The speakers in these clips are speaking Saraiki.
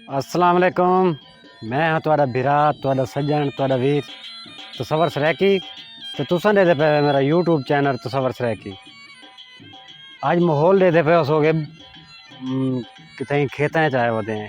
السلام علیکم میں ہاں تہاڈا بھرا تہاڈا سجن تہاڈا ویر تصور سرائیکی تے تساں دے دے پے میرا یوٹیوب چینل تصور سرائیکی اج ماحول دے دے پے اس ہو گئے کتھیں کھیتاں وچ آئے ہوندے ہیں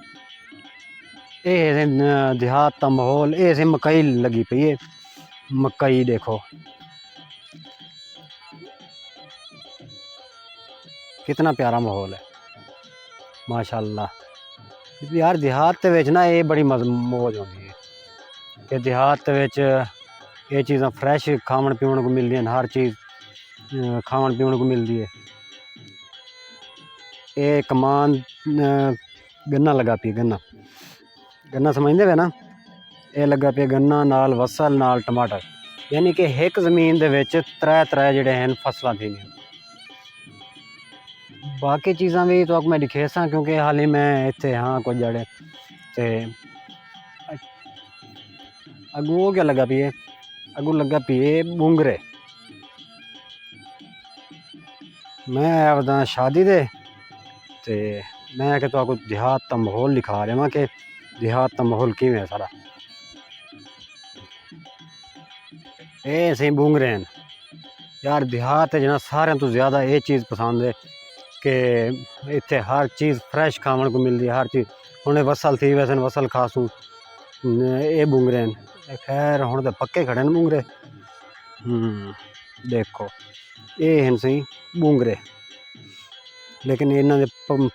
اے ہے دیہات دا ماحول اے ہے مکئی لگی پئی ہے مکئی ݙیکھو کتنا پیارا ماحول ہے ماشاء اللہ یار دیہات تے وچ نا اے بڑی موج ہوندی ہے کہ دیہات تے وچ اے چیزاں فریش کھاوݨ پیوݨ کوں ملدی ہن ہر چیز کھاوݨ پیوݨ کوں ملدی ہے اے کمان گنا لگا پی گنا گنا سمجھدے پے نا اے لگا پے گنا نال وصل نال ٹماٹر یعنی کہ ہک زمین دے وچ ترے ترے جڑے ہیں فصلاں تھیں باقی چیزاں بھی تو میں دکھے ساں کیونکہ حالی میں اتھے ہاں کچھ جڑے تے اگو کیا لگا پیے اگو لگا پیے بونگرے میں آیا ودا شادی دے تے میں کہ تو کو دیہات دا ماحول لکھا رہا ہاں کہ دیہات دا ماحول کیویں ہے سارا اے سیں بونگ رہے ہیں یار دیہات جنا سارے تو زیادہ اے چیز پسند ہے کہ اتھے ہر چیز فریش کھاون کو ملدی ہے ہر چیز ہن وصل تھی ویسے وصل کھاسوں اے بونگ رہے ہیں خیر ہن تے پکے کھڑے ہیں بونگ رہے ہوں ڈیکھو اے ہن سئیں ٻونگرے لیکن انہاں دے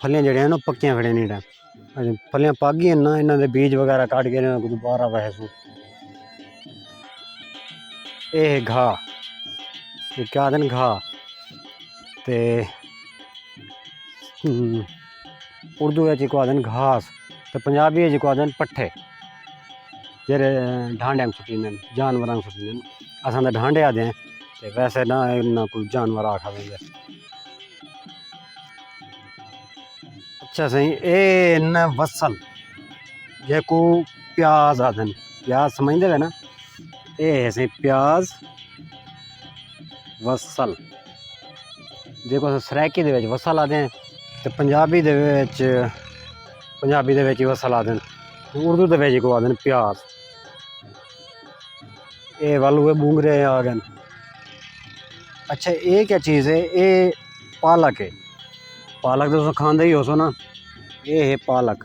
پھلیاں جیڑھیاں ہن پکیاں کھڑیاں نی ڈے اجے پھلیاں پک گیاں نا انہاں دے بیج وغیرہ کاٹ کے انہاں کوں دوبارہ وہے سوں اے ہے گھا اے کیا آکھدن گھا تے اردو وچ ایکوں آکھدن گھاس تے پنجابی وچ ایکوں آکھدن پٹھے جیہڑے ڈھانڈے کوں سٹیندن جانوراں کوں سٹیندن اساں تاں ڈھانڈے آکھدے ہیں تے ویسے نہ انہاں کوں جانور آکھا ویندے۔ اچھا سائیں اے ہن وصل جیکوں پیاز آکھدن پیاز سمجھدے پئے نا اے ہے سائیں پیاز وصل۔ جیکوں اساں سرائیکی دے وچ وسل آکھدے ہیں تے پنجابی دے وچ پنجابی دے وچ ہی وسل آکھدے ہیں تے اردو دے وچ اکوں آکھدے ہیں پیاز اے ول ہوئے بونگرے آ گئے اچھا اے کیا چیز ہے اے پالک ہے پالک تساں کھاندے ہی ہوسو نا اے ہے پالک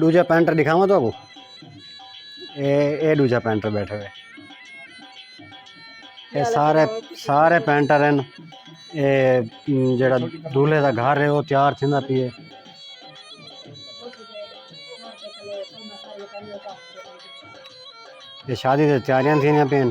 دوجا پینٹر دکھاواں تو کو اے دوجا پینٹر بیٹھے ہوئے اے سارے سارے پینٹر ہیں اے جڑا دولے دا گھر ہے وہ تیار تھیندا پیے اے شادی دے تیاریاں تھیندیاں پین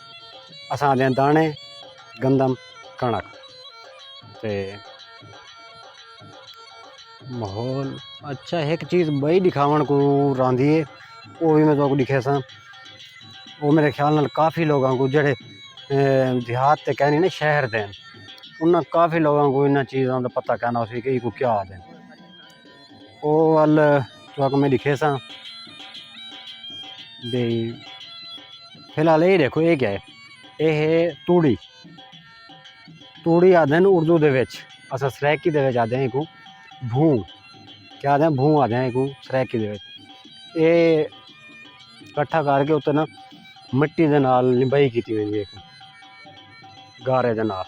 اساں آندے داݨے گندم کݨک تے ماحول اچھا ہک چیز ٻئی ݙکھاوݨ کوں راہندی ہے او وی میں تہاکوں ݙکھیساں او میݙے خیال نال کافی لوکاں کوں جیڑھے دیہات تے کینی نا شہر دے انہاں کافی لوکاں کوں انہاں چیزاں دا پتہ کینا ہوسی کہ ایکوں کیا آہدن۔ او ول تہاکوں میں ݙکھیساں بھئی فی الحال اے ݙیکھو اے کیا ہے اے ہے توڑی توڑی آکھدے ہن اردو دے وچ اساں سرائیکی دے وچ آکھدے ہیں ایکوں بھوں کیا آکھدے ہیں بھوں آکھدے ہیں ایکوں سرائیکی دے وچ اے کٹھا کر کے اتے نا مٹی دے نال لمبائی کیتی ویندی ہے گارے دے نال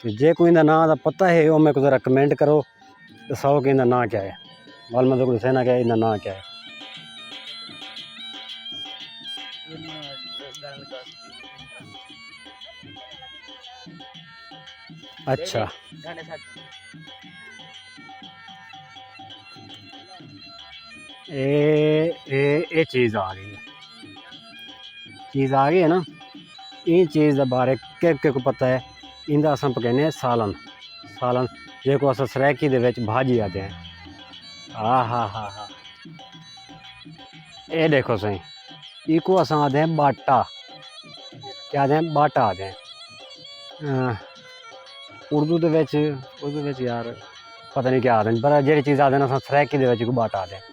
تے جے کوئی اندا ناں دا پتہ ہے او میکوں ذرا کمنٹ کرو دساؤ کہ اندا ناں کیا ہے وال میں تکوں دسینا کہ اندا ناں کیا ہے اچھا اے اے اے چیز آ گئی ہے چیز آ گئی ہے نا ایں چیز دے بارے کہہ کہہ کوں پتہ ہے ایندا اساں پکینے ہیں سالن سالن جیکوں اساں سرائیکی دے وچ بھاجی آکھدے ہیں ہا ہا ہا ہا اے ݙیکھو سئیں ایکوں اساں آکھدے ہیں ٻاٹا کیا آکھدے ہیں ٻاٹا آکھدے ہیں اردو دے وچ اردو دے وچ یار پتہ نی کیا آکھدن پر جیڑھی چیز آکھدن اساں سرائیکی دے وچ ایکوں ٻاٹا آکھدے ہیں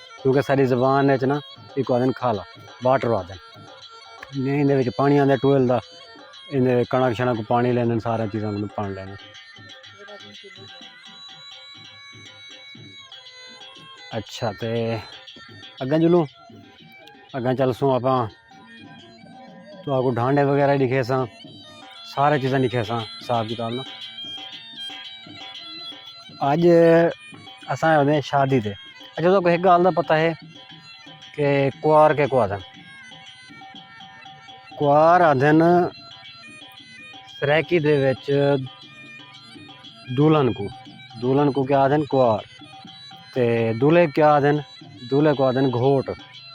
کیونکہ ساݙی زبان اچ نا ایکوں آکھدن کھالا واٹر آکھدن جئیں ایندے وچ پاݨی آندا ٹویل دا ایندے کݨک شݨک کوں پاݨی لیندن سارے چیزاں کوں پاݨی لیندن اچھا تے اگاں چلوں اگاں چلسوں آپاں تو آگو ڈھانڈے وغیرہ ہی لکھے ساں سارے چیزاں لکھے ساں حساب کتاب نا اج اساں آئے ہوندے شادی تے اچھا تو ایک گال دا پتہ ہے کہ کوار کے کو آدھن کوار آدھن سریکی دے وچ دولن کو دولن کو کیا آدھن کوار تے دولے کیا آدھن دولے کو آدھن گھوٹ